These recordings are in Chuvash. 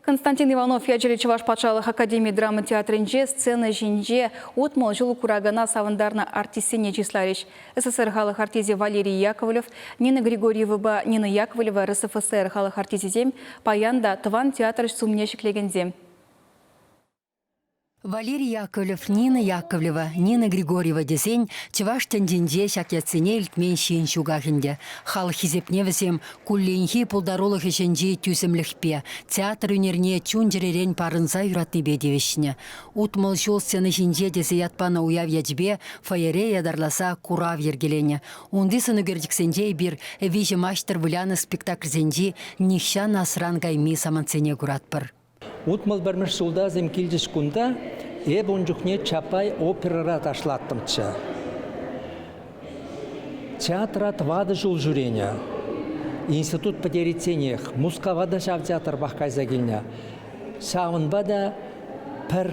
Константин Иванов ячӗллӗ Чӑваш патшалӑх академи драма театрӗнче сцена ҫинче утмӑл ҫул куракана савӑнтарнӑ артистсене чысларӗҫ. СССР халӑх артисчӗ Валерий Яковлев, Нина Григорьевӑпа Нина Яковлева РСФСР халӑх артисчӗсем, паян та тӑван театрҫ сумне ҫӗклекенсем. Валерий Яковлев Нина Яковлева, Нина Григорьева тесен чӑваш тӗнчинче ҫак ятсене илтмен ҫын ҫуках ӗнтӗ. Халӑх хисепне вӗсем кулленхи пултарулӑх ӗҫӗнчи тӳсӗмлӗхпе, театр ӳнерне чун-чӗререн парӑнса юратнипе тивӗҫнӗ. Утмӑл ҫул сцена ҫинче тесе ят панӑ уяв ячӗпе фойере ятарласа курав йӗркеленӗ. Унти сӑнӳкерчӗксенче эпир «Виҫӗ маҫтӑр» вылянӑ спектакльсенчи нихҫан асран кайми самантсене куратпӑр. Утмӑл пӗрмӗш ҫултасем килчӗҫ кунта. Эпӗ ун чухне Чапай оперӑра ташлаттӑмччӗ. Театра тӑватӑ ҫул ҫӳренӗ. Институт пӗтеричченех Мускава та ҫав театрпах кайса килнӗ. Ҫавӑнпа та пӗр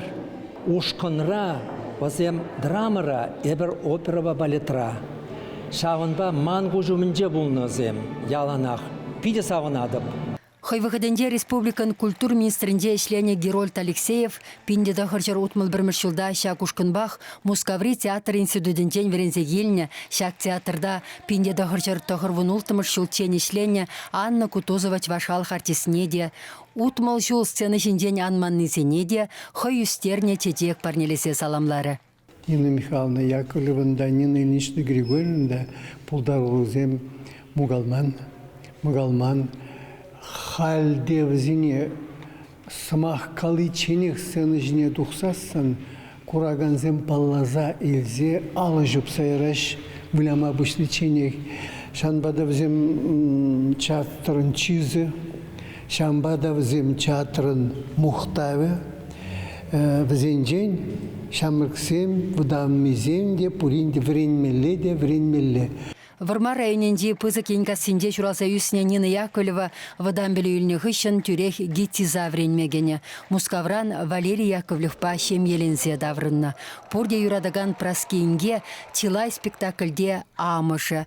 ушкӑнра, вӗсем драмӑра, эпӗр оперӑпа балетра. Ҫавӑнпа ман куҫ умӗнче пулнӑ вӗсем яланах. Питӗ савӑнатӑп. Хӑй вӑхӑтӗнче республикӑн культура министрӗнче ӗҫленӗ Герольд Алексеев пин те тӑхӑрҫӗр утмӑл пӗрмӗш ҫулта ҫак ушкӑнпах Мускаври театр институтӗнчен вӗренсе килнӗ, ҫак театрта пин те тӑхӑрҫӗр тӑхӑрвунулттӑмӗш ҫулччен ӗҫленӗ Анна Кутузова чӑваш халӑх артистне те, утмӑл ҫул сцена ҫинчен анманнисене те хӑй ӳстернӗ чечек парнелесе саламларӗ. Нина Михайловна Яковлевӑн та, Нина Ильинична Григорьевна та пултаруллисем мукалман. Халь те вӗсене сӑмах каличченех сцена ҫине тухсассӑн куракансем палласа илсе алӑ ҫупса яраҫ выляма пуҫличченех. Ҫавӑнпа та вӗсем театрӑн чысӗ, Ҫавӑнпа та вӗсем театрӑн мухтавӗ, вӗсенчен ҫамрӑксем, вӑтаннисем те пурин те вӗренмелле те вӗренмелле. Вӑрмар районӗнчи Пысӑк Енккассинче ҫуралса ӳснӗ Нина Яковлева вӑтам пӗлӳ илнӗ хыҫҫӑн тӳрех ГИТИЗа вӗренме кӗнӗ. Мускавран Валерий Яковлевпа ҫемьеленсе таврӑннӑ. Пурте юратакан Праски инке чылай спектакльте амӑшӗ,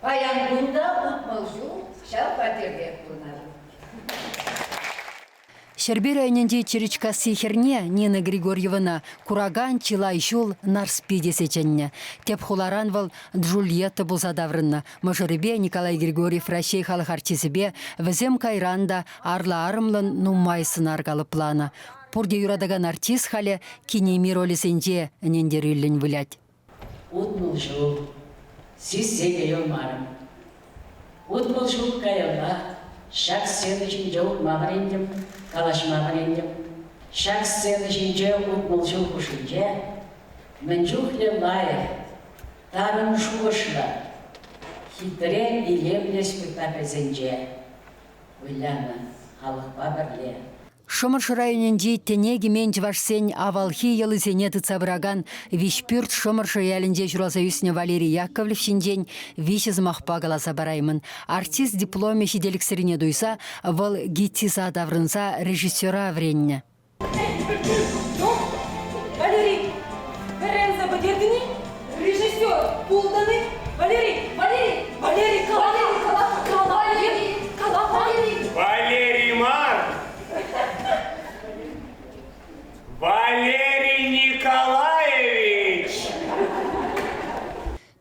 Паян кун та утмӑл ҫул ҫав хваттертех пурӑнатӑп. Ҫӗрпӳ районӗнчи Чиричкасси хӗрне Нина Григорьевӑна куракан чылай ҫул Нарспи тесе чӗннӗ. Тӗп хуларан вӑл Джульетта пулса таврӑннӑ. Мӑшӑрӗпе Николай Григорьев Раҫҫей халӑх артисӗпе, вӗсем кайран та арлӑ-арӑмлӑн нумай сӑнар калӑпланӑ. Пурте юратакан артист халӗ кинемей ролӗсенче ӗнентерӳллӗн вылять. Утмӑл ҫул сиссе те юлмарӑм. Утмӑл ҫул каялла ҫак сцена ҫинче утма вӗрентӗм, калаҫма вӗрентӗм. Ҫак сцена ҫинче утмӑл ҫул хушшинче мӗн чухлӗ лайӑх, тарӑн шухӑшлӑ, хитре, илемлӗ спектакльсенче вылянӑ халӑхпа пӗрле. Шӑмӑршӑ районӗнчи Тӗне кӗмен чӑвашсен авалхи йӑлисене тытса пыракан Виҫпӳрт Шӑмӑршӑ ялӗнче ҫуралса ӳснӗ Валерий Яковлев ҫинчен виҫӗ сӑмахпа каласа параймӑн. Артист дипломӗ ҫителӗксӗррине туйса вӑл ГИТИСа таврӑнса режиссера вӗреннӗ. Валерий, вӗренсе пӗтертӗн-и? Режиссер пултӑн-и? Валерий, Валерий, Валерий, кала, кала, кала, Валерий, кала, Валерий. Валерий мар! Валерий Николаевич!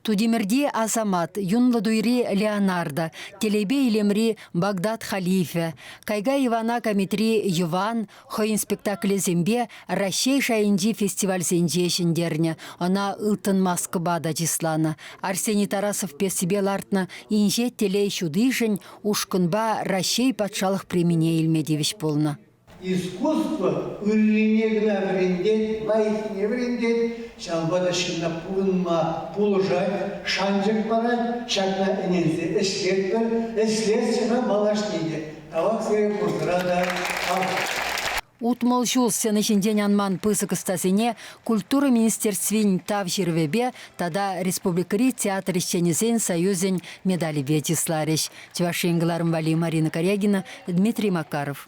Тутимӗрти Асамат, юнлӑ туйри Леонардо, Телейпе илемри Багдад Халифӗ, Кайга Ивана Камитри Йӑван, хӑйӗн спектаклӗсемпе Раҫҫей шайӗнчи фестивальсенче ҫӗнтернӗ. Ӑна ылтӑн маскӑпа та чысланӑ. Арсений Тарасов пьесипе лартнӑ Инҫет телей ҫутишӗн ушкӑнпа Раҫҫей патшалӑх премине илме тивӗҫ пулнӑ. Искусство ыррине кӑна вӗрентет, лайӑххине вӗрентет, ҫавӑнпа та ҫынна пурӑнма пулӑшать, шанчӑк парать. Ҫакна ӗненсе ӗҫлетпӗр, ӗҫлесчӗ-ха малашне те. Талантсем пурнӑра та хавас. Утмӑл ҫул сцена ҫинчен анман пысӑк ӑстасене Культура министерствин Тав ҫырӑвӗпе тата республикӑри театр ӗҫченӗсен союзӗн медалӗпе чысларӗҫ Чӑваш Ен кӑларӑм валли Марина Корягина, Дмитрий Макаров.